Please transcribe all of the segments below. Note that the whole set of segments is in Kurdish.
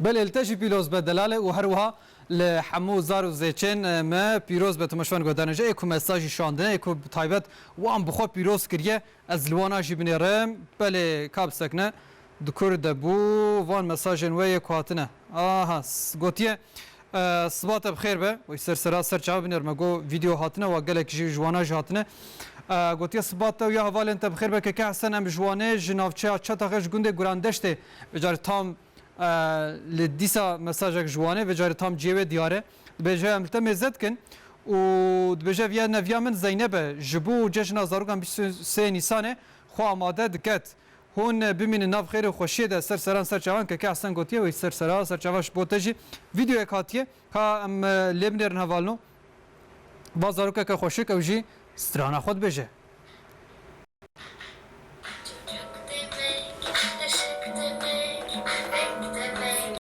Belê li te jî pîloz be delale û herwiha li hemû zar û zêçên me pîroz be Tomaş van Godane ji ê ku me stajî şandine ê ku bi taybet wan bi xwe pîroz kiriye ez li wan a jî binêrim belê ka bi sekine di kur de bû van mesajên wê yê ku hatine aha gotiye Siba te bi xêr be. Wê ser sera ser çav biner me got vîdeo hatine wa gelek ji wana jî hatine. Gotiye siba te û ya hevalên te bi xêr be Keke Hesen em ji Wanê ji navçeya Çataxe ji gundê Gurandeştê vê carî tam li dîsa mesajek ji Wanê vê carî tam ciyê wê diyar e. Dibêje em li te mêze dikin û dibêje ev ya neviya min Zeyneb e ji bo cejina zarokan bîst û sê Nîsanê xwe amade diket Hûn bimînin nav xêr û xweşiyê de ser seran ser çavan Keke Ehsen gotiye wê ser sera ser çavan ji bo te jî vîdeoyek hatiye ka em lê binêrin hevalno va zarokeke xweşik ew jî strana xwe dibêje.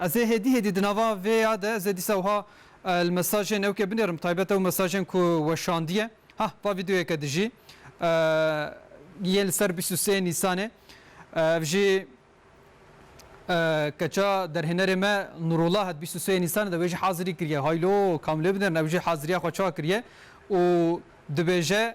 Ez ê hêdî hêdî di nava vê ya de ez ê dîsa wiha li mesajên ew ke binêrim taybet ew mesajên ku weşandiye. Hah va vîdeoyeke dijî yê li ser bîst û sê Nîsanê. Ev jî keça derhênerê me Nurullah hat bîst û sê Nîsanê de wê jî hazirî kiriye. Haylo kam lê binêrin ew jî haziriya xwe çawa kiriye û dibêje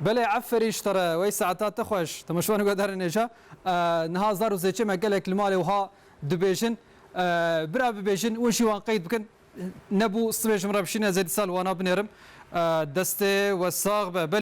Belê eferîn ji te re wey saeta te xweş. Temeşvan guhdarê nêja. Niha zar û zêçê me gelek li malê wiha dibêjin. Bira bibêjin û jî wan qeyd bikin. Nebû sibê ji min re bişîne zêdî sal wana binêrim. Destê we sax be.